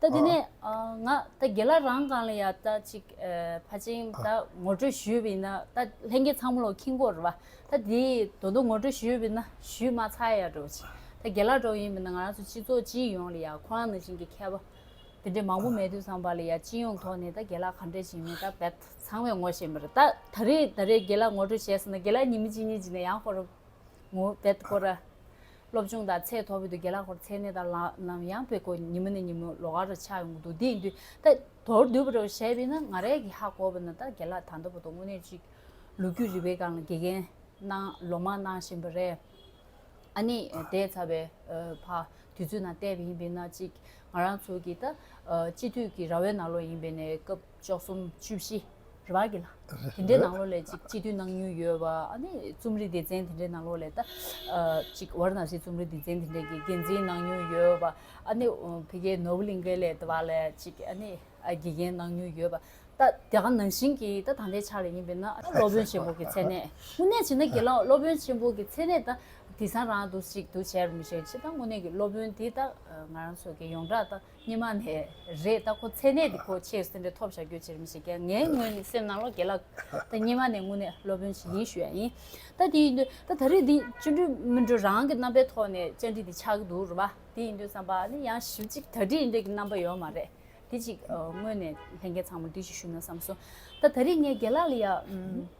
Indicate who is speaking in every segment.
Speaker 1: ད་དེ་ནས་ང་ད་དགེ་ལ་རང་གང་ལ་ཡ་ད་ཅིག་ཕ་ཅིང་ད་ངོ་སྤྲོད་ཞུས་ཡོད་པ་ཡིན་ན་ད་ལྷན་རྒྱས་ཚང་མ་ལོ་ཁིང་གོ་རེད་པ་ད་དེ་དོ་དོ་ངོ་སྤྲོད་ཞུས་ཡོད་པ་ཡིན་ན་ཞུས་མ་ཚར་ཡ་འགྲོ་ཅིག་ད་དགེ་ལ་འགྲོ་ཡིན་པ་ན་ང་རང་ཚོ་སྤྱི་ཚོགས་སྤྱི་ཡོངས་ལ་ཡ་ཁོ་རང་ནང་བཞིན་གྱི་མཁས་པ་དེ་འདྲ་མང་པོ་མེད་དུས་སམ་བ་ལ་ཡ་སྤྱི་ཡོངས་ཐོག་ནས་ད་དགེ་ལ་ག་འདྲ་བྱེད་མིན་ད་བད་ཚང་མས་ངོ་ཤེས་མ་རེད་ད་ད་རེས་ད་རེས་དགེ་ལ་ངོ་སྤྲོད་བྱས་སོང་ན་དགེ་ལ་ཉིན་མི་གཅིག་གཉིས་གཅིག་ནས་ཡང་ཁོ་རང་ངོ་བད་གོ་ར་སློབ་ཆུང་དང་ཚད་མཐོ་བོད་དུ་དགེ་ལག་སྐོར་ཚད་གནས་དང་ལམ་ཡང་དཔེ་ཁོ་ཉིན་མོ་ནས་ཉིན་མོ་ལོ་གར་ཆགས་ཡོང་གི་འདུག་འདི་ཡིན་དུས་ད་དོར་བསྡུས་པ་རེ་བ་ཞེས་པས་ན་ང་རས་ཀྱི་ཧ་གོ་བ་ན་ད་དགེ་ལག་ད་འདོ་བོ་དང་དངོས་གནས་ཅིག་ལོ་རྒྱུས་རིག་པའི་སྒང་ལ་དགེ་རྒན་གནང་ལོ་མང་གནང་བཞིན་པ་རེད། ཨ་ནི་དེས་ཚར་བའི་བར་དུས་ཚོད་ནང་བལྟས་པ་ཡིན་པས་ན་ཅིག་ང་རང་ཚོ་གི་ད་སྤྱི་འཐུས་ཀྱི་ར་བའི་ནང་ལོགས་ཡིན་པས་ནས་སྐབས། བཅུ་གསུམ་བཅུ་བཞི་རེད་བ་གི་ལ། དེ་འདྲའི་ནང་ལོགས་ལས་ཅིག་སྤྱི་འཐུས་གནང་མྱུལ་ཡོད་བ་ཨ་ནི་རྩོམ་རིག་སྡེ་ཚན་དེ་འདྲའི་ནང་ལོགས་ལས་ད་ཅིག་བར་ནང་བཞིན་རྩོམ་རིག་སྡེ་ཚན་དེ་འདྲའི་གི་འགན་འཛིན་གནང་མྱུལ་ཡོད་བ་ཨ་ནི་བྷི་གའི་ནོར་བུ་གླིང་གའི་ལས་ད་བ་ལས་ཅིག་ཨ་ནི་དགེ་རྒན་གནང་མྱུལ་ཡོད་བ་ད་དེ་ག་ནང་བཞིན་གི་ད་ད་ལྟའི་ཆ་ལ་ཡིན་པས་ན་ཨ་ནི་སློབ་དཔོན་ཆེན་པོ་གི་མཚན་གནས་དངོས་གནས་བྱས་ན་དགེ་སློང་སློབ་དཔོན་ཆེན་པོ་གི་མཚན་གནས་ད་དེ་སང་རང་དུ་ཅིག་ཏུ་བྱས་པ་མི་ཤེས་ཕྱི་ད་དངོས་གནས་གི་སློབ་དཔོན་དེ་ད་ང་རང་ཚོ་གི་ཡོངས་གྲགས་ད་སྙེ་མ་ནས་རེད་ད་ཁོ་ཚད་གནས་འདི་ཁོ་ཆེ་གསོན་འདྲེ་ཐོབ་བཞག་རྒྱུ་ཅི་རིམ་ཞིག་ངའི་དངོས་ནས་སེམས་ནང་ལོ་དགེ་ལགས་ད་སྙེ་མ་ནས་དངོས་གནས་སློབ་དཔོན་ཞིག་ཡིན་ཞུ་ཡ་ཡིན་ད་དེ་ཡིན་དུས་ད་ད་རེས་འདི་བཅུ་འགྲུལ་སྨིན་གྲོལ་རང་གི་རྣམ་པའི་ཐོག་ནས་བཅར་འདྲི་འདི་ཆགས་ཀྱི་འདུག་རུ་བ་དེ་ཡིན་དུས་བསམ་པ་ནི་ཡང་ཞིབ་ཅིག་ད་འདྲི་འདྲི་གི་རྣམ་པ་ཡོད་མ་རེད་དེ་ཅིག་དངོས་ནས་ལྷན་རྒྱས་ཚང་མ་འདྲི་ཞིག་ཞུ་ན་བསམ་སོང་ད་ད་རེས་ངས་དགེ་ལགས་ལ་ཡང།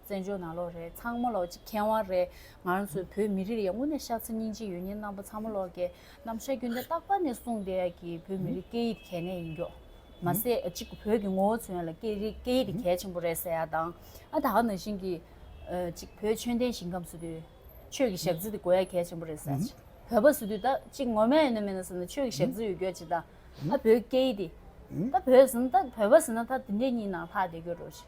Speaker 1: བཙན་བྱོལ་ནང་ལོག་རེད་ཚང་མ་ལོག་ཅིག་མཁས་དབང་རེད་ང་རང་ཚོའི་བོད་མི་རིགས་ཡ་ངོ་ནས་ཤ་ཚ་སྙིང་རྗེ་ཡོད་ཉེན་རྣམ་པ་ཚང་མ་ལོག་གེ་རྣམ་ཤ་རྒྱུན་ལྡན་རྟག་པ་ནས་གསུངས་བསྡད་ཡ་གི་བོད་མི་རིགས་སྐད་ཡིག་གལ་གནད་ཡིན་མགྱོགས་མ་ཟད་གཅིག་བོད་ཀྱི་ངོ་བོ་མཚོན་ཡ་ལ་སྐད་རིགས་སྐད་ཡིག་གལ་ཆེན་པོ་རེད་ཟེར་ཡ་དང་ཨ་ད་ང་ནང་བཞིན་གི་གཅིག་བོད་ཆོས་ལྡན་ཞིང་ཁམས་སུ་དུས་ཆོས་ཀྱི་ཞག་རྩི་དེ་དགོས་ཡ་གལ་ཆེན་པོ་རེད་ཟེར་ཡ་བོད་པ་སུ་དུས་ད་གཅིག་ངོ་མ་ཡ་ན་མེད་ན་ཟེར་ན་ཆོས་ཀྱི་ཞག་རྩི་ཡོད་རྒྱུ་ཡ་གཅིག་ད་ཨ་བོད་སྐད་ཡིག་དེ་ད་བོད་ཟེར་ན་ད་བོད་པ་ཟེར་ན་ད་དེ་འདྲས་གཉིས་ནང་ལྷག་བསྡད་རྒྱུ་རེད་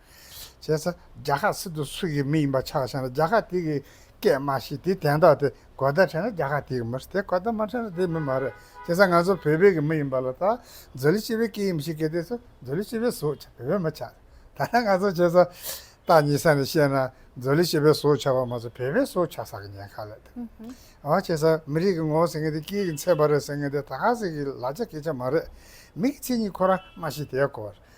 Speaker 2: བྱས་ཚེ་རྒྱ་ཁག་སྲིད་དོན་སུ་ཡི་མི་ཡིན་པ་ཆགས་ཤིང་རྒྱ་ཁག་དེ་གི་སྐད་མ་ཤེས་དེ་དན་རྟགས་དེ་གོ་བརྡ་འཕྲད་ན་རྒྱ་ཁག་དེ་གི་མི་རེད་དེ་གོ་བརྡ་མ་འཕྲད་ན་དེ་མི་མ་རེད་བྱས་ཚེ་ང་ཚོ་བོད་པའི་གི་མི་ཡིན་པ་ལ་ད་མཛོད་ལི་སྤྱི་བའི་སྐད་ཡིན་མི་ཤེས་སྐད་དེ་ཚོ་མཛོད་ལི་སྤྱི་བའི་བཟོ་ཆགས་བོད་པའི་མི་ཆགས་ད་ལྟ་ང་ཚོ་བྱས་ཚེ་སྟག་ཉིད་ས་ནས་བཤད་ན་མཛོད་ལི་སྤྱི་བའི་བཟོ་ཆགས་པ་མ་ཚོ་བོད་པའི་བཟོ་ཆགས་ས་གི་ཉེན་ཁ་ལས་དང་འོ་བྱས་ཚེ་མི་རིགས་གི་ངོ་བོ་ཟེར་མཁན་དེ་སྐད་གི་མཚན་པ་རེད་ཟེར་མཁན་དེ་ད་ག་ཟེར་གི་ལ་ཆ་གི་ཆ་མ་རེད་མི་གི་མཚན་ཉིད་ཁོ་རང་མ་ཤེས་དེ་གོ་བར་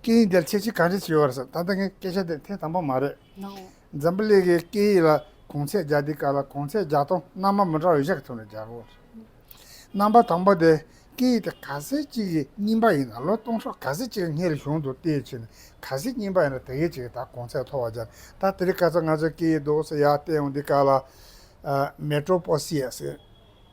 Speaker 2: སྐད་ཡིག་དེར་ཁྱད་ཆོས་ག་རེ་ཞིག་ཡོད་རེད་ད་ལྟ་ངའི་སྐད་ཆ་དེ་ཐེངས་དང་པོ་མ་རེད། འཛམ་བུ་གླིང་གི་སྐད་ཡིག་ལ་གོང་ཚད་བརྒྱ་འདི་ཀ་ལ་གོང་ཚད་བརྒྱ་སྟོང་རྣམ་པ་མི་འདྲ་བ་བཞག་ཐུབ་ན་བརྒྱ་དགུ་རེད། རྣམ་པ་དང་པོ་དེ་སྐད་ཡིག་དེ་ག་ཟེ་གཅིག་གི་རྙིང་པ་ཡིན་ན་ལོ་སྟོང་ཕྲག་ག་ཟེ་གཅིག་སྔའི་རི་གཞུང་དུ་ལྟས་ཕྱིན་ནས་ག་ཟེ་རྙིང་པ་ཡིན་ན་དེ་གའི་ཆེ་གེ་ད་གོང་ཚད་མཐོ་བ་བརྒྱ་རེད་ད་དེ་རིང་ག་ཚོད་ང་ཚོའི་སྐད་ཡིག་རྡོག་ཟེ་ཡག་ལྟས་འོང་འདི་ཀ་ལ། Metropoesia། ཟེར།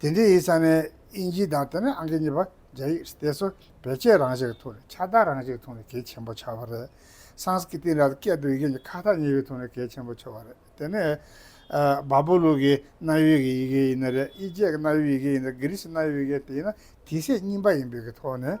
Speaker 2: དེ་འདི་ཡི་ས་ནས་དབྱིན་ཇི་དང་དེ་ནས་ཨང་ཀི་གཉིས་པ་རྒྱ་ཡིག་སྟེ་སོ་བེ་ཅེ་རང་བཞིན་གྱི་ཐུགས་ནས་ཁྱད་རྟགས་རང་བཞིན་གྱི་ཐུགས་ནས་གལ་ཆེན་པོ་འཆར་བ་རེད། སངས་སྐི་ཏི་ར་སྐད་དུ་ཡི་གེ་གཉིས་ཁ་ཐག་ཉེ་བའི་ཐུགས་ནས་གལ་ཆེན་པོ་འཆར་བ་རེད། དེ་ནས། བ་བོ་ལུགས་ཀྱི་གནའ་ཡུལ་གྱི་ཡི་གེ་ཡིན་ན་རེད་ཨི་ཇེ་ཀི་གནའ་ཡུལ་ཡི་གེ་ཡིན་ན་རེད་གྷི་རི་སི་གནའ་ཡུལ་ཡི་གེ་དེ་ཡིན་ན་དེ་ཚེག་རྙིང་པ་ཡིན་པའི་གི་ཐོག་ནས་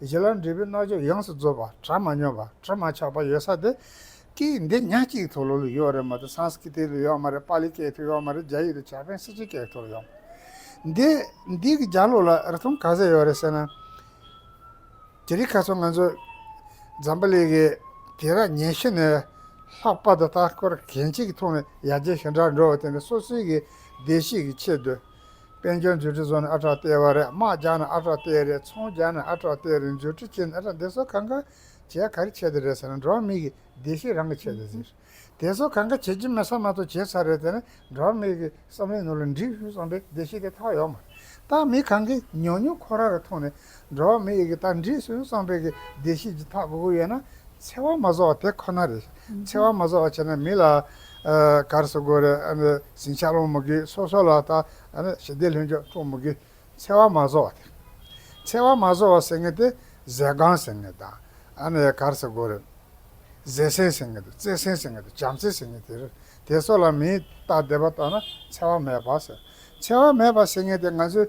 Speaker 2: གཞི་ལ་འདྲིས་པའི་རྣལ་འབྱོར་ཡོངས་སུ་རྫོགས་པ་གྲ་མ་སྙོམས་པ་གྲ་མ་ཆག་པ་ཡོད་ས་དེ་ཀི་འདི་ཉག་གཅིག་ཐོ་ལོ་ལོ་ཡོག་རེད་མ་ཏོ་སངས་སྐི་ཏི་ལོ་ཡོག་མ་རེད་པ་ལི་ཀེ་ཐོ་ཡོག་མ་རེད་རྒྱ་ཡིག་ཏུ་ཇཱ་པན་སི་ཇི་ཀེ་ཐོ་ཡོག་མ་འདི་འདི་གི་རྒྱ་ལོ་ལ་རི་ཐུང་ག་ཟེ་ཡོག་རེད་ཟེ་ན་དེ་རི་ཁ་ཚོ་ང་ཚོ་འཛམ་པ་ལི་གི་དེ་ར་ཉན་ཤི་ནས་ལྷག་པ་དོ་ལྟ་སྐོར་གན་ཅིག་ཐུང་ནས་ཡ་རྒྱ་ཞི་འདྲ་འགྲོ་བ་དེ་ནི་སོ་སོའི་གི་བདེ་གཤེགས་གི་ཆེད་དུ། དཔལ་འབྱོར་མཛོད་འཕྲིན་བཟོ་ནི་ཨ་ཁྲག་སྟེར་བ་རེད་དམག་རྒྱག་ནི་ཨ་ཁྲག་སྟེར་རེད་ཚོང་རྒྱག་ནི་ཨ་ཁྲག་སྟེར་རེད་མཛོད་འཕྲིན་ཁྱེར་ནི་ཨ་ཁྲག་འདི་ཚོ་གང་ག་བྱས་ག་རེ་བྱས་དེ་རེད་ཟེར་ན་འགྲོ་བ་མི་གི་བདེ་གཤེགས་རང་གི་བྱས་དེ་ཟེར། དེ་ཚོ་གང་ག་བྱས་ཀྱི་མེད་ས་མ་གཏོགས་བྱས་ཚར་རེད་ཟེར་ན་འགྲོ་བ་མི་གི་བསམ་བློའི་ནུ་ལ་འགྲིག་ཞུ་བསམ་པའི་བདེ་གཤེགས་དེ་ཐག་ཡོག་མ་རེད། ད་མི་གང་གིས་ཉོག་ཉོག་ཁོ་རང་རེ་མཐོང་ནས་འགྲོ་བ་མི་ཡི་གེ་རྟགས་འདྲིས་སུ་གསང་སྤེལ་གྱི་བདེ་གཤེགས་ཀྱི་ཐག་གོ་དགུ་ཡོད་ན་འཚེ་བ་མ་བཟོ་བ་དེ་ཁོ་ན་རེད། འཚེ་བ་མ་བཟོ་བ་བྱས་ན་མི་ལ་གར་སོ་དགོས་རེད། ཟིང་ཆ་སློང་མི་དགོས་སོ་སོ་ལ་ད་ཞི་བདེ་ལྷུན་འཇོག་སྤྲོ་མི་དགོས། འཚེ་བ་མ་བཟོ་བ་དེ། འཚེ་བ་མ་བཟོ་བ་ཟེར་ངེས་དེ་ཟས་སྒང་ཟེར་ངེས་དང་གར་སོ་དགོས་རེད། ཟས་སྲན་ཟེར་ངེས་དང་རྩེད་སྲན་ཟེར་ངེས་དང་བྱམས་བརྩེ་ཟེར་ངེས་དེ་རེད། དེ་སོགས་ལ་མིའི་རྟགས་བདེ་བ་རྟོགས་ན་འཚེ་བ་མེད་པ་ཟེར། འཚེ་བ་མེད་པ་ཟེར་ངེས་དེ་ང་ཚོས་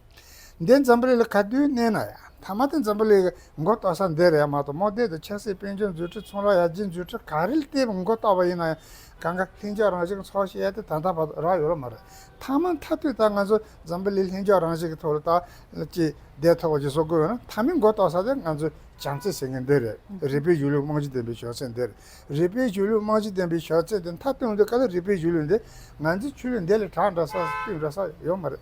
Speaker 2: འདི་འཛམ་བུ་གླིང་ལ་ག་དུས་གནས་ན་ཡང་མཐའ་མ་དེ་འཛམ་བུ་གླིང་གི་མགོ་བཏོག་ས་འདི་རེད་མ་གཏོགས་མོ་རྡེལ་དུ་ཆབ་སྲིད་དཔལ་འབྱོར་འཛུལ་ཁྲིད་ཚོང་ར་ཡར་རྒྱས་འཛུལ་ཁྲིད་ག་རེ་སྟེ་མགོ་བཏོག་པ་ཡིན་ན་ཡང་གང་ག་ལྷིང་འཇགས་རང་བཞིན་གྱི་ཚོགས་ཤིག་ཡལ་ཏེ་ད་ལྟ་བར་དུ་རག་ཡོད་ལ་མ་རེད། མཐའ་མ་མཐའ་དུས་ད་ང་ཚོ་འཛམ་བུ་གླིང་ལྷིང་འཇགས་རང་བཞིན་གྱི་ཐོག་ལ་ད་ཅི་བདེ་ཐོག་བརྗེ་བཟོ་དགོས་ཡོད་ན་མཐའ་མའི་མགོ་བཏོག་ས་དེ་ང་ཚོའི་བྱམས་བརྩེ་ཟེར་མཁན་འདི་རེད་རིག་པའི་གཞུང་ལུགས་རྨང་གཞི་ལྡན་པའི་ཞོགས་ཟས་འདི་རེད་རིག་པའི་གཞུང་ལུགས་རྨང་གཞི་ལྡན་པའི་ཞོགས་ཟས་དེ་མཐའ་སྟོན་དུས་ག་ལ་རིག་པའི་གཞུང་ལུགས་འདི་ང་ཚོའི་ཆོས་ལུགས་འདི་ལས་གྲགས་འདྲ་ས་སྤུས་འདྲ་ས་ཡོད་མ་རེད།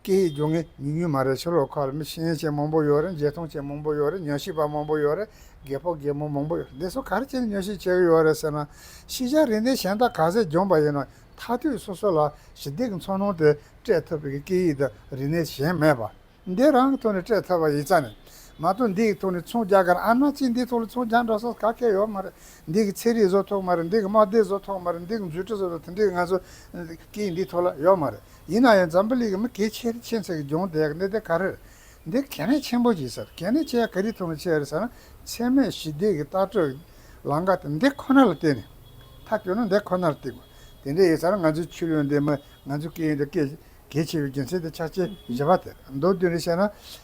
Speaker 2: སྐད་ཡིག་སྦྱོང་མཁན་ཉུང་ཉུང་མ་རེད་ཕྱི་ལོག་ཁག་ལ་མི་ཤེས་མཁན་ཆེས་མང་པོ་ཡོད་རེད་མཇལ་མཐོང་ཆེས་མང་པོ་ཡོད་རེད་ཉོན་ཤེས་པ་མང་པོ་ཡོད་རེད་རྒས་ཕོ་རྒས་མོ་མང་པོ་ཡོད་རེད་འདི་ཚོ་ག་རེ་བྱས་ནས་ཉོན་ཤེས་བྱེད་ཀྱི་ཡོད་རེད་ཟེར་ན། ཤེས་བྱ་རིག་གནས་གཞན་དག་ག་ཟེ་སྦྱོང་པ་ཡིན་ནོ་མཐའ་དུས་སོ་སོ་ལ་ཞི་བདེ་གི་འཚོ་སྣང་དེ་སྤྲད་ཐུབ་པའི་སྐད་ཡིག་དང་རིག་གནས་གཞན་མེད་པ། འདི་རང་གི་ཐོག་ནས་སྤྲད་ཐུབ་པ་ཡིན་ས་ནི་མ་གཏོགས་འདི་ཡི་ཐོག་ནས་མཚུངས་རྒྱག་ག་རེ་ཨ་ན་གཅིག་འདིའི་ཐོག་ལ་མཚུངས་རྒྱག་འདྲ་སོགས་ག་གེ་ཡོད་མ་རེད་འདི་གི་ཚེ་རིག་བཟོ་ཐུབ་མ་རེད་འདི་གི་དམག་སྡེ་བཟོ་ཐུབ་མ་རེད་འདི་གི་མཛོད་ཁྲི་བཟོ་ཐུབ་མ་རེད་འདི་གི་ང་ཚོ་སྐད་ཡིག་འདིའི་ཐོག་ལ་ཡོད་མ་རེད། ཡིན་ན་ཡང་འཛམ་བུ་གླིང་གི་མི་གལ་ཆེ་རིགས་ཆེན་ཚོ་ཡི་སྦྱོང་བརྡའི་གནད་དོན་ག་རེར་འདིར་གལ་གནད་ཆེན་པོ་ཞིག་ཟེར་གལ་གནད་ཆེ་ཡ་ག་རེ་ཐུབ་མ་ཆེ་རེད་ཟེར་ན་འཚེ་མེད་ཞི་བདེ་གི་ལྟ་སྤྲོད་ཀྱི་ལང་ཀ་དེ་འདི་ཁོ་ན་ལ་བརྟེན་ནས་ཐག་གཅོད་ན་འདི་ཁོ་ནར་བརྟེན་དགོས་དེ་འདྲ་ཡིན་ཟེར་ན་ང་ཚོའི་ཆུ་ལོན་འདི་མི་ང་ཚོའི་སྐད་ཡིག་དང་སྐད་གལ་ཆེ་བའི་རྒྱུ་མཚན་དེ་ཆགས་ཆེ་བཞི་བ་དེ་རེད་མདོར་བསྡུས་ནས་བཤད་ན།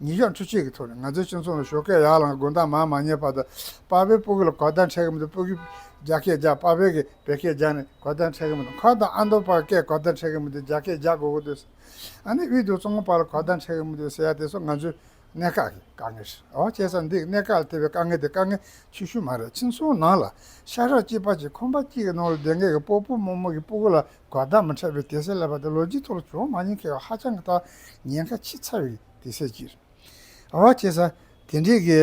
Speaker 2: ཉིན་ཞག་ཁྲི་གཅིག་གི་ཐོག་ནས་ང་ཚོའི་སྤྱི་ཚོགས་ནང་ཞོགས་ཀའི་ཡར་ལངས་དགོན་བདག་མང་མ་ཉེས་པ་དང་དཔའ་བོའི་སྤུ་གུ་ལ་གོ་བརྡ་འཕྲད་གི་མི་འདུག་སྤུ་གུས་རྒྱ་སྐད་རྒྱག་དཔའ་བོས་ཀྱི་བལ་སྐད་རྒྱག་ནས་གོ་བརྡ་འཕྲད་གི་མི་འདུག་འཁོར་དང་ཨ་མདོ་བར་སྐད་གོ་བརྡ་འཕྲད་གི་མི་འདུག་རྒྱ་སྐད་རྒྱག་དགོས་གི་འདུག་ཟེར། ཨ་ནེ་དབུས་དུར་གཙང་པོ་བར་ལ་གོ་བརྡ་འཕྲད་གི་མི་འདུག་ཟེར་ཡ་དེ་ཚོ་ང་ཚོའི་གནད་འགག་གི་དཀའ་ངལ་རེད་ཨོ་སྐྱེས་ས་འདིས་གནད་འགག་ལ་ཐེབས་པའི་དཀའ་ངལ་དེ་དཀའ་ངལ་ཆུ་ཤུར་མ་རེད་སྤྱི་ཚོགས་ནང་ལ་ཤ་ཁྲག་གཅིག་པ་གཅིག་ཁོམ་པ་གཅིག་གི་ནང་ལ་བདེན་སྐད་ཀྱི་སྤོ་སྤོ་མོག་མོག་གི་སྤུ་གུ་ལ་དགའ་སྡང་མི་འཕྲད་པའི་དད་སེལ་ལས་པ་དེ་ལོ་རྒྱུས་ཐོག་ལ་བྱུང་མ་མྱོང་མཁས་པ་ཧ་ཅང་གི་ཐག་ཉེ་ཁ་ཆེ་ཚ་བའི་དད་སེལ་གྱིས་རེད། འོ་ཁྱེད་ས་དེ་འདྲའི་གི་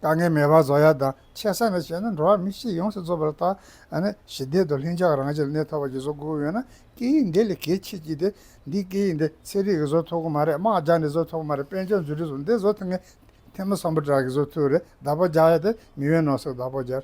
Speaker 2: དཀའ་ངལ་མེད་པ་བཟོ་ཡ་དང་ཆེ་ས་ནས་བྱས་ན་འགྲོ་བ་མི་གཅིག་ཡོངས་སུ་རྫོགས་པ་རེད་ད་ནི་ཞི་བདེའི་དོ་ལྷིང་འཇགས་རང་བཞིན་ལ་གནས་ཐོག་པ་ཅིག་བཟོ་དགོས་ཡོད་ན་སྐད་ཡིག་འདི་ལས་གལ་ཆེ་གྱི་དེ་འདི་སྐད་ཡིག་འདི་ཚན་རིག་གི་བཟོ་ཐུབ་གི་མ་རེད་དམག་རྒྱག་ནས་བཟོ་ཐུབ་གི་མ་རེད་དཔལ་འབྱོར་འཛུལ་ཁྲིད་བཟོ་འདི་བཟོ་ཐུབ་ངེས་ཐེངས་མི་བསམ་པོ་དྲག་གིས་བཟོ་ཐུབ་རེད་བདག་པོ་རྒྱག་ཡ་དེ་མི་ཡོད་ནོ་སོགས་བདག་པོ་རྒྱག་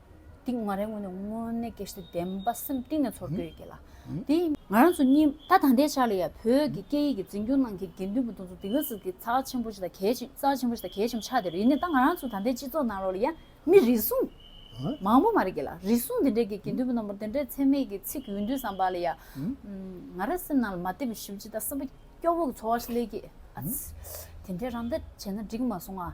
Speaker 1: འདི་ང་རའི་ངོས་ནས་དངོས་གནས་ཀེ་སི་བདེན་པ་སེམས་གཏིང་ནས་ཚོར་གྱི་ཡོད་ཀྱི་ལ་དེ་ང་རང་ཚོ་གཉིས་ད་ད་ལྟའི་ཆ་ལ་ཡང་བོད་ཀྱི་སྐད་ཡིག་གི་འཛིན་སྐྱོང་ནང་གི་དགེ་འདུན་པ་དང་ཚོ་འདི་ག་ཚོད་ཀྱི་ཚ་བ་ཆེན་པོ་ཞིག་དང་གལ་ཆེན་ཚ་བ་ཆེན་པོ་ཞིག་དང་གལ་ཆེན་པོ་ཆགས་དེ་རེད་ནས་ད་ང་རང་ཚོ་ད་ལྟའི་སྤྱི་ཚོགས་ནང་ལོགས་ལ་ཡང་མི་རེ་ཟུང་མང་པོ་མ་རེད་ཀྱི་ལ་རེ་ཟུང་དེ་འདྲའི་གི་དགེ་འདུན་པ་རྣམ་པར་དེ་འདྲའི་ཚད་མེད་ཀྱི་ཚིག་གི་འོས་འདུན་བསམ་པ་ལ་ཡང་ང་རང་སེམས་ནང་ལ་མ་བདེ་བའི་ཞིབ་ཅི་ད་སེམས་པ་སྐྱོ་བོ་གི་ཚོར་བ་ཞིག་སླེབས་ཀྱི་ཨ་ཙི་དེ་འདྲའི་རང་འདྲ་བྱས་ན་འགྲིག་མ་སོང་ང།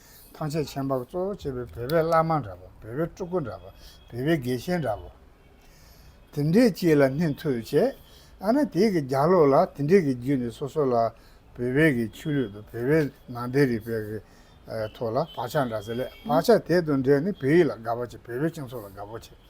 Speaker 2: ཐང་ཆད་ཆད་འབག་གཙོ་བོ་བྱེད་པའི་བོད་པའི་བླ་མ་འདྲ་པ་བོད་པའི་སྤྲུལ་སྐུ་འདྲ་པ་བོད་པའི་དགེ་བཤེས་འདྲ་པོ། དེ་འདྲའི་སྤྱི་ལ་སྣེ་འཐོལ་བྱས་ཨ་ན་དེ་གི་རྒྱ་ལོ་ལ་དེ་འདྲའི་གི་རྒྱུ་ནི་སོ་སོ་ལ་བོད་པའི་གི་ཆོས་ལུགས་དང་བོད་པའི་ནང་འདྲའི་རིག་པའི་གི་ཐོག་ལ་བག་ཆགས་འདྲ་ཟེར་ལས་བག་ཆགས་དེ་དང་འདྲའི་ནི་བོད་ཡིག་ལ་དགའ་བོ་བྱེད་བོད་པའི་སྤྱི་ཚོགས་ལ་དགའ་བོ་བྱེད།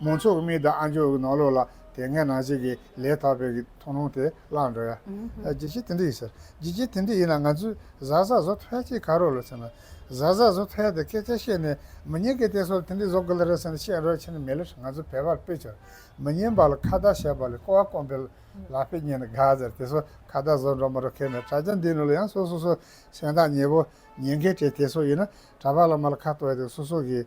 Speaker 2: མོ་མཆོག་གི་མིག་དང་ཨ་མཆོག་གི་ནོར་ལོག་ལ་དེ་སྔའི་ནང་བྱེད་ཀྱི་ལས་ཐར་པའི་གི་ཐོང་ལོང་དེ་བརླག་འགྲོ་ཡ། ཇི་བྱེད་དེ་འདྲ་ཡིན་ཟེར། ཇི་བྱེད་དེ་འདྲ་ཡིན་ན་ང་ཚོས་གཟའ་ཟ་བཟོ་ཐལ་ཅིག་ག་རོགས་ལ་ཟེར་ན། གཟའ་ཟ་བཟོ་ཐལ་དེ་སྐད་ཆ་བཤད་ནས་མི་ཉན་གི་དེ་སོར་དེ་འདྲ་བཟོ་དགོས་ལ་རེད་ཟེར་ན་བཤད་རོགས་ཕྱིན་ན་མི་ལེར་ང་ཚོ་བལ་བར་དཔེ་བྱོར་མི་ཉན་པ་ལ་ཁ་བརྡ་བྱས་པ་ལས་ཀོ་བ་སྐོམ་པའི་ལག་དཔེ་རྙེད་ན་དགའ་ཟེར་དེ་སོར་ཁ་བརྡ་བཟོ་འགྲོ་མ་འགྲོ་ཁེལ་ནས་དྲ་རྒྱ་འདིའི་ནང་ལ་ཡང་སོ་སོ་སོ་སེམས་ཐག་ཉེ་པོ་ཉན་མཁན་བྲེལ་དེ་སོར་ཡིན་ན་གྲྭ་པ་ལ་མ་ལ་ཁ་བརྟོལ་ཏེ་སོ་སོ་གིས།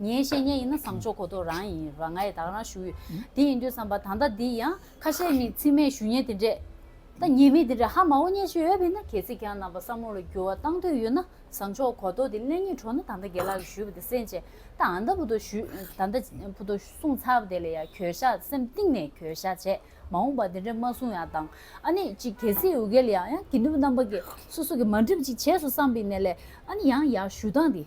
Speaker 1: ངའི་བཤེས་གཉེན་ཡིན་ན་བཟང་ཕྱོགས་གོ་ཐོག་རང་ཡིན་རང་ངའི་དག་རང་ཞུ་ཡི་དེ་ཡིན་དུས་བསམ་པ་ད་ལྟ་འདི་ཡང་ཁ་ཤས་ནི་ཚིག་མེད་ཞུ་ཉེན་དེ་འདྲས་ད་ཉེས་མེད་དེ་འདྲས་ཧ་མ་འོ་ཉེས་ཤིག་ཡོད་པས་ན་གལ་སྲིད་ཀྱང་རྣམ་པ་སྲ་མོ་ལ་འགྱུར་བ་བཏང་འདོད་ཡོད་ན་བཟང་ཕྱོགས་གོ་ཐོག་དེ་གླེང་ཉེས་གྲོགས་ནི་ད་ལྟ་དགེ་ལགས་ཀྱིས་ཞུས་པ་དེ་སེམས་ཅན་ད་ཨ་མདའ་བུ་དོ་ཞུས་ད་ཨ་མདའ་བུ་དོ་གསུངས་ཚར་བ་དེ་ལ་ཡང་གྱོད་བཤགས་སེམས་གཏིང་ནས་གྱོད་བཤགས་བྱས་མ་འོངས་པ་དེ་འདྲས་མ་གསུངས་ཡང་དང་ཨ་ནི་ཅིག་གལ་སྲིད་འུ་གེ་ལ་ཡང་ཡང་དགེ་འདུན་པ་རྣམ་པ་ཀྱིས་སོ་སོ་གིས་མ་འགྲིབ་ཅིག་བྱས་སོ་བསམ་པའི་གནས་ལས་ཨ་ནི་ཡང་ཡང་ཞུ་སྟངས་དེ།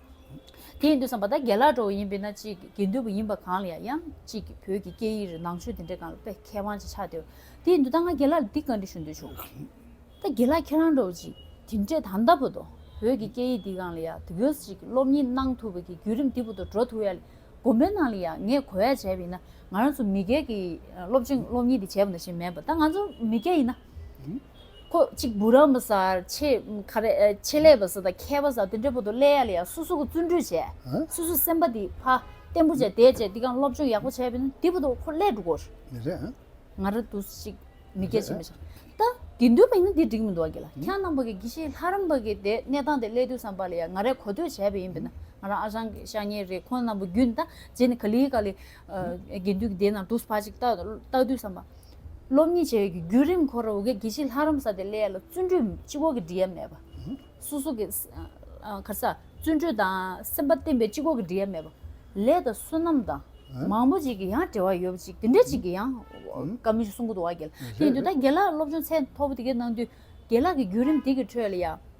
Speaker 1: དེ་ཡིན་དུས་སམ་བ་ད་རྒྱལ་ལགས་གྲོགས་ཡིན་པས་ན་ཅིག་དགེ་འདུན་པ་ཡིན་པ་གང་ལ་ཡང་ཡང་ཅིག་གིས་བོད་ཀྱི་སྐད་ཡིག་རིག་ནང་ཆོས་དེ་འདྲའི་གང་ལ་དཔེ་མཁས་དབང་ཅིག་ཆགས་དེ་བས་དེ་ཡིན་དུས་ད་ང་རྒྱལ་ལགས་ལ་འདི་ག་འདྲི་ཞུ་འདོད་བྱུང། ད་རྒྱལ་ལགས་ཁྱེད་རང་གྲོགས་ཅིག་དེ་འདྲས་ད་ལྟ་བུ་དོ་བོད་ཀྱི་སྐད་ཡིག་འདི་གང་ལ་ཡང་དེ་ག་ཅིག་གིས་སློབ་གཉེར་གནང་ཐུབ་པ་གི་བརྒྱུད་རིམ་འདི་བུ་དོ་འགྲོ་ཐུབ་ཡ་ལས་སྒོམ་པའི་ནང་ལ་ཡང་ངས་གོ་བས་བྱས་པ་ཡིན་ན་ང་རང་ཚོ་མི་སྒེར་གྱིས་སློབ་ཆེན་སློབ་གཉེར་འདི་བྱས་པ་ན་ཞེས་མེད་པ་ད་ང་ཚོ་མི་སྒེར་ཡིན་ན། ཁོ་གཅིག་བུ་རམ་པ་སར་ཆེད་ལས་པ་ས་དང་མཁས་པ་ས་དེ་འདྲ་བོ་དོ་ལེ་ཡ་ལེ་ཡ་སོ་སོ་གོ་བརྩོན་འགྲུས་བྱས་སོ་སོ་སེམས་པ་དེ་ཕ་བརྟན་པོ་བྱས་དེ་བྱས་འདི་གང་སློབ་སྦྱོང་ཡག་པོ་བྱས་པས་ན་དེ་བོ་དོ་ཁོ་ལས་འགྲོ་གོ། མི་རེད་
Speaker 2: ཨ། ང་ར་དུ་
Speaker 1: ཞིག་མི་སྐད་ཆེ་མི་བྱ། ད་དེ་འདོད་པ་ཡིན་ན་དེ་འགྲིག་མི་འདུག་གི་ལ་ཁྱེད་རང་པ་གི་གི་ཤེས་ལྷ་རམ་པ་གི་དེ་གནས་སྟངས་དེ་ལས་དུས་སམ་པ་ལེ་ཡ་ང་རས་གོ་ཐོས་བྱས་པས་ཡིན་པས་ན་ང་རང་ཨ་ཞང་ཞང་ཉེ་རེ་ཁོ་རྣམས་པོ་རྒྱུད་ནས་ད་རྗེས་ནས་ག་ལི་ག་ལི་དགེ་འདུན་གི་དེ་ན་དུ་ཕ་ཅིག་ལྟ་དུས་སམ་པ། སློབ་གཉིས་བྱས་ཡོད་ཀྱི་བརྒྱུད་རིམ་འཁོར་འོ་གེ་གཞི་ལྷ་རམ་ས་ཏེ་ལས་ལ་བརྩོན་འགྲུས་སྤྱི་བོ་གི་འབྲི་གཡབ་མེད་པ། སོ་སོ་གི། ཁར་ས། བརྩོན་འགྲུས་དང་སེམས་པ་བརྟན་པའི་སྤྱི་བོ་གི་འབྲི་གཡབ་མེད་པ། ལས་དང་བསོད་ནམས་དང། མང་པོ་ཅིག་གི་ཡང་བྲེལ་བ་ཡོད་པ་ཅིག་དེ་འདྲ་ཅིག་གི་ཡང། བཀའ་མི་སྲུང་གུ་དོག་བ་འགྱེལ། དེ་ཡིན་དུས་ད་དགེ་ལགས་སློབ་སྦྱོང་ཚད་མཐོ་པོ་དེ་གའི་གནང་དུས་དགེ་ལགས་ཀྱི་བརྒྱུད་རིམ་དེ་གི་ཁྲོད་ལ་ཡང།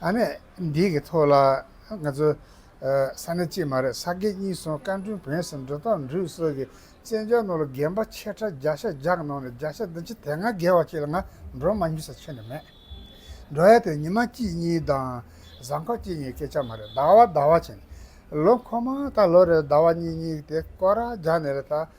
Speaker 2: ཨ་ནེ། འདི་གི་ཐོག་ལ་ང་ཚོ། ས་གནས་གཅིག་མ་རེད་ས་དགེ་གཉིས་སོང་བཀའ་དྲུང་བོན་སེམས་འགྲོ་སྟངས་འབྲུག་སོགས་ཀྱི་བཙན་བྱོལ་ནང་ལ་རྒན་པ་ཆེ་ཕྲ་བརྒྱ་ཤ་བརྒྱག་གནང་ནས་བརྒྱ་ཤ་འདི་ཕྱི་དེ་སྔ་རྒས་བ་ཅིག་ལ་ང་འགྲོ་མ་མྱུལ་ས་ཆོད་ནས་མེད། འགྲོ་ཡ་དེ་ཉི་མ་གཅིག་གཉིས་དང། གཟའ་འཁོར་གཅིག་གཉིས་སྐད་ཆ་མ་རེད་ཟླ་བ་ཟླ་བ་བྱས་ནས། ལོ་འཁོར་མ་ད་ལོ་རེར་ཟླ་བ་གཉིས་གཉིས་ཏེ་སྐོར་ར་བརྒྱག་ནས་རེད་ད།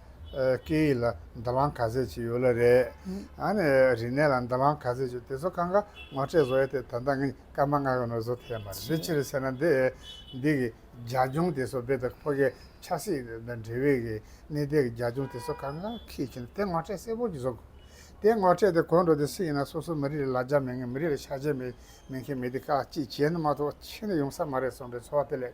Speaker 2: སྐད་ཡིག་ལ་དོ་སྣང་ག་ཚད་བྱེད་ཡོད་ལ་རེད། རིག་གནས་ལ་དོ་སྣང་ག་ཚད་བྱེད་དེ་ཚོ་གང་ག་ངོ་སྤྲད་བཟོ་ཡ་དེ་ད་ལྟ་ངས་སྐར་མ་ལྔ་ཡོང་ནས་བཟོ་ཐལ་མ་རེད་དེ་ཕྱིར་བསད་ན་འདི་འདི་གི་རྒྱ་ལྗོངས་དེ་ཚོ་རྦད་དེ་ཕོ་རྒད་ཆགས་སྲེད་དང་འབྲེལ་བའི་གི་གནས་དེ་གི་རྒྱ་ལྗོངས་དེ་ཚོ་གང་ག་ཁས་བྱེད་ན་དེ་ངོ་སྤྲད་གསལ་བོ་གྱི་བཟོ་དགོས། དེ་ངོ་སྤྲད་དེ་གོ་འགྲོ་དེ་སུ་ཡིན་ན་སོ་སོ་མི་རིགས་ལ་ལ་རྒྱ་མེད་ངན་མི་རིགས་ལ་ཤ་རྒྱ་མེད་མཁན་མེད་དེ་ཀ་ཅིག་བྱས་ན་མ་གཏོགས་ཕྱི་ནས་ཡོང་ས་མ་རེད་སོང་པའི་ཚོར་བ་དེ་ལས་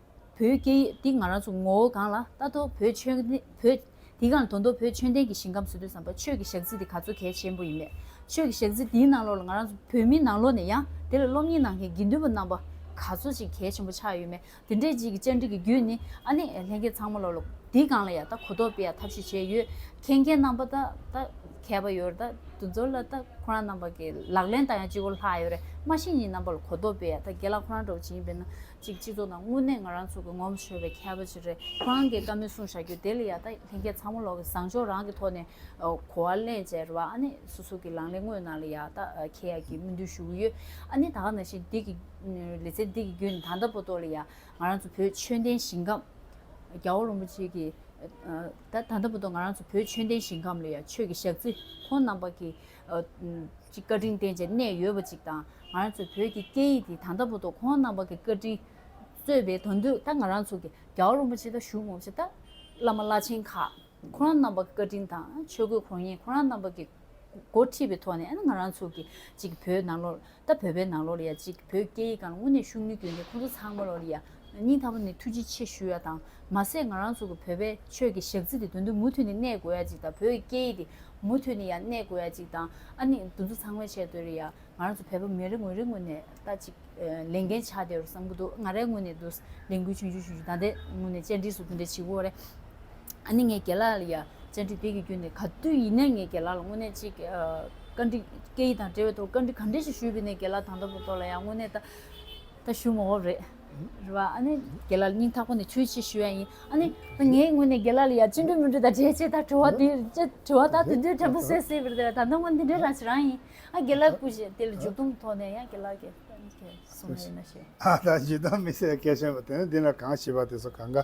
Speaker 1: བོད་སྐད་ཡིག་འདི་ང་རང་ཚོ་ངོ་བོ་གང་ལ་ལྟ་རྟོག་བོད་ཆོས་བོད་དེ་གང་དོན་རྟོག་བོད་ཆོས་ལྡན་གྱི་ཞིང་ཁམས་སུ་དུས་བསམ་པ་ཆོས་ཀྱི་ཞག་རྩི་འདི་ག་ཚོད་གལ་ཆེན་པོ་ཡིན་མེད་ཆོས་ཀྱི་ཞག་རྩི་འདིའི་ནང་ལོགས་ལ་ང་རང་ཚོ་བོད་མི་ནང་ལོགས་ནས་ཡང་དེ་ལ་སློབ་གཉེར་གནང་མཁན་དགེ་འདུན་པ་རྣམ་པ་ག་ཚོད་ཅིག་གལ་ཆེན་པོ་ཆགས་ཡོད་མེད་འདི་འདྲའི་རྗེས་ཀྱི་བཅར་འདྲི་གི་རྒྱུད་ནི་ཨ་ནི་ལྷན་རྒྱས་ཚང་མ་ལོགས་ལ་འདི་གང་ལ་ཡང་ལྟ་གོ་རྟོག་སྤེལ་ཡ་ཐབས་ཤེས་བྱས་ཡོད་མཁན་མཁན་རྣམ་པ་ད་ལྟ་མཁས་པ་ཡོད་རེད་ད་དུ་འཛོར་ལ་ལྟ་ཁོ་རང་རྣམ་པ་གི་ལག་ལེན་ད་ཡང་སྤྱི་བོར་ལྷག་ཡོད་རེད་སྨྲ་ཤེས་གཉིས་རྣམ་པ་ལ་གོ་རྟོག་སྤེལ་ཡ་ད་དགེ་ལགས་ཁོ་རང་འདྲ་བོ་ཇི་ཡིན་པའི་ནང། ཅིག་སྤྱི་ཚོགས་ནང་དངོས་གནས་ང་རང་ཚོ་གི་ངོམ་ཤོར་བའི་ཁྱད་པ་ཅི་རེད་ཁོ་རང་གིས་བཀའ་མོལ་གསུང་བཞག་རྒྱུ་དེ་ལ་ཡག་ད་ལྷན་རྒྱས་ཚང་མ་ལོག་གི་བཟང་ཕྱོགས་རང་གི་ཐོག་ནས་གོ་བ་ལེན་བྱས་རེད་བ་ཨ་ནི་སོ་སོ་གི་ལང་ལེ་དངོས་གནང་ལ་ཡག་ད་ཁྱེད་ཡག་གི་སྨོན་འདུན་ཞུ་གི་ཡོད་ཨ་ནི་ད་ག་ནང་བཞིན་འདི་གི་ལེ་ཚན་འདི་གི་བརྒྱུད་ནས་ད་ལྟ་པོ་ཏོ་ལ་ཡག་ང་རང་ཚོ་བོད་ཆོས་ལྡན་ཞིང་ཁམས་རྒྱ་བོ་རོང་པོ་ཆེ་གི་ད་ད་ལྟ་པོ་ཏོ་ང་རང་ཚོ་བོད་ཆོས་ལྡན་ཞིང་ཁམས་ལ་ཡག་ཆོས་ཀྱི་ཞག་རྩི་ཁོང་རྣམ་པ་གི་ཅིག་བཀའ་དྲིན་བརྟེན་བྱས་གནས་ཡོད་པ་ཅིག་དང་ང་རང་ཚོའི་བོད་ཀྱི་སྐད་ཡིག་འདི་ད་ལྟ་བུ་དང་ཁོང་རྣམ་པ་གི་བཀའ་དྲིན་གསོས་པའི་དོན་དུ་ད་ང་རང་ཚོ་གི་རྒྱའོ་རིན་པོ་ཆེ་དང་ཞུ་མོང་ཆེ་དང་བླ་མ་བླ་ཆེན་ཁག་ཁོ་རང་རྣམ་པ་གི་བཀའ་དྲིན་དང་ཆོས་གོས་གོར་ཉེ་ཁོ་རང་རྣམ་པ་གི་འགོ་ཁྲིད་པའི་ཐོག་ནས་ང་རང་ཚོ་གི་ཅིག་བོད་ནང་ལོར། ད་བོད་པའི་ནང་ལོ་ལ་ཡ་གཅིག་བོད་སྐད་ཡིག་གང་ལ་དངོས་གནས་ཤུགས་ནུས་སྐྱོན་ཏེ་ཁོང་ཚོ་ཚང་མ་ལོ་ལ་ཡ་གཉིས་ཐ་མ་ནས་ཐུགས་རྗེ་ཆེ་ཞུ་ཡ་དང་མ་ཟད་ང་རང་ཚོ་གི་བོད་པའི་ཆོས་ཀྱི་ཞག་རྩི་དེ་དོན་དུ་མུ་མཐུད་ནས་གནས་དགོས་ཡ་གཅིག་དང་བོད་ཡིག་སྐད་ཡིག་དེ་མུ་མཐུད་ནས་ཡ་གནས་དགོས་ཡ་གཅིག་དང་ཨ་ནི་འདུ་འཛོ་ཚང་མས་བྱས་དོན་རེད་ཡ་ང་རང་ཚོ་བོད་པ་མི་རེ་ངོས་རེ་ངོས་ནས་ད་གཅིག་ལས་འགན་ཆགས་བསྡད་རོ་བསམ་གི་འདུག་ང་རའི་ངོས་ནས་འདུག་ལས་འགུལ་ཆུང་ཆུང་ཆུང་ཆུང་ད་ལྟའི་ངོས་ནས་བཅར་འདྲི་སུ་འདྲ་འདྲ་བྱེད་དགོས་རེད། ཨ་ནི་ངའི་རྒྱལ་ལགས་ལ་ཡ། བཅར་འདྲི་དེ་གི་རྒྱུ་ནི་ག་དུས་ཡིན་ནའི་ངའི་རྒྱལ་ལགས་ལ་དངོས་གནས་ཅི། བཀའ་འདྲི། སྐད་ཡིག་དང་འབྲེལ་བའི་ཐོག་བཀའ་འདྲི་ག་འདྲི་ཞིག་ཞུས་པའི་ནའི་རྒྱལ་ལགས་དང་ད་བུ་ཏོ་ལ་ཡང་དངོས་གནས་ད། ད་ཞུ་མ་འོབས་རེད། རེད་བ། ཨ་ནི། རྒྱལ་ལགས་ལ་སྙིང་ཐག་པ་ནས་ཆོས་ཅི་ཞུ་ཡ་ཡིན། ཨ་ནི། ད་ངའི་དངོས་གནས་རྒྱལ་ལགས་ལ་ཡ་ཅི་འདྲི་མི་འདྲི་དང་འབྲེལ་ཅེས་ད་དྲི་བ་དེ། དྲི་བ་ད་དེ་དུས་དྲན་པ་སེ་སེ་བུ་རེད་བ་ད་ད་ངོ་འདི་འདྲའི་རང་བྱེད་རང་ཡིན། ཨ་རྒྱལ་ལགས་སྐུ་བཞེས་དེ་ལ་མཇུག་སྡོམ་གི་ཐོག་ནས་ཡང་རྒྱལ་ལགས་ཀྱི། སོང་ཡིན་ན་ཞེས། ཨ་ད་མཇུག་སྡོམ་མི་
Speaker 2: སེར་སྐད་ཆེན་པོ་དེ་ནི་འདི་ན་གང་བྱིས་པ་དེ་ཚོ་གང་ག།